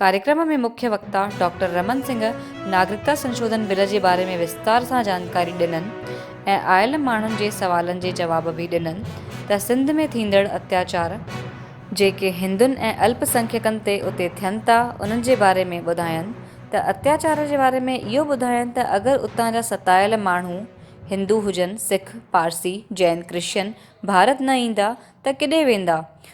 ڪاريڪرم ۾ مکيه وڪتا ڊاڪٽر رمن سنگهه ناگرڪتا سنشوڌن بل جي باري ۾ وستار سان جانڪاري ڏنن ۽ آيل ماڻهن جي سوالن جي جواب به ڏنن ته سنڌ ۾ ٿيندڙ اتياچار جيڪي هندن ۽ الپ سنکيڪن تي اتي ٿين ٿا انهن جي باري ۾ ٻڌاين ته اتياچار جي باري ۾ اهو ٻڌاين ته اگر اتان جا ستايل ماڻهو هندو هجن سک پارسي جين ڪرشچن ڀارت نه ايندا ته ڪيڏي ويندا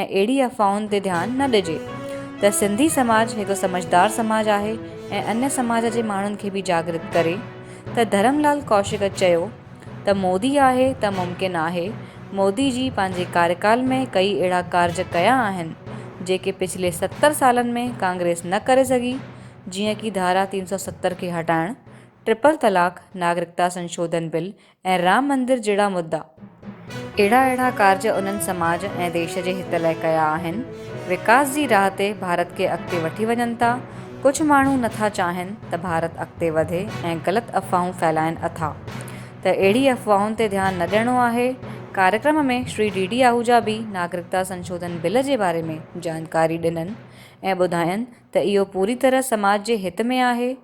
۽ اهڙي افواهن تي ڌيان نه ڏجي ته سنڌي سماج هڪ سمجهدار سماج آهي ۽ انهيء سماج جي ماڻهن کي به جاڳرت ڪري ته ڌرم لال ڪوشڪ چيو ته مودي آهي ته ممڪن آهي مودي جي پنهنجي ڪاريڪال ۾ ڪئي اهڙا ڪارج ڪيا آهن جيڪي پڇلي ستر سالن ۾ ڪانگريس نه ڪري سگهي جيئن ڪي ڌارا تين سؤ ستر کي هٽائڻ ٽرپل طلاق ناگرڪتا سنشوڌن بل ۽ رام مندر جهڙا مدا. اهڙا اهڙا ڪارج انهن سماج ۽ ديش جي هت لئه ڪيا آهن، وڪاس جي راهه تي ڀارت کي اڳتي وٺي وڃن ٿا. ڪجهه ماڻهو نه ٿا چاهين ته ڀارت اڳتي وڌي ۽ غلط افواهون ڦهلائين اٿا ته اهڙي افواهن تي ڌيان نه ڏيڻو آهي. ڪاريڪرم ۾ شري ڊي ڊي آهوجا به ناگرڪتا سنشوڌن بل جي باري ۾ جانڪاري ڏنن ۽ ٻڌاين ته اهو پوري طرح سماج جي هت ۾ آهي.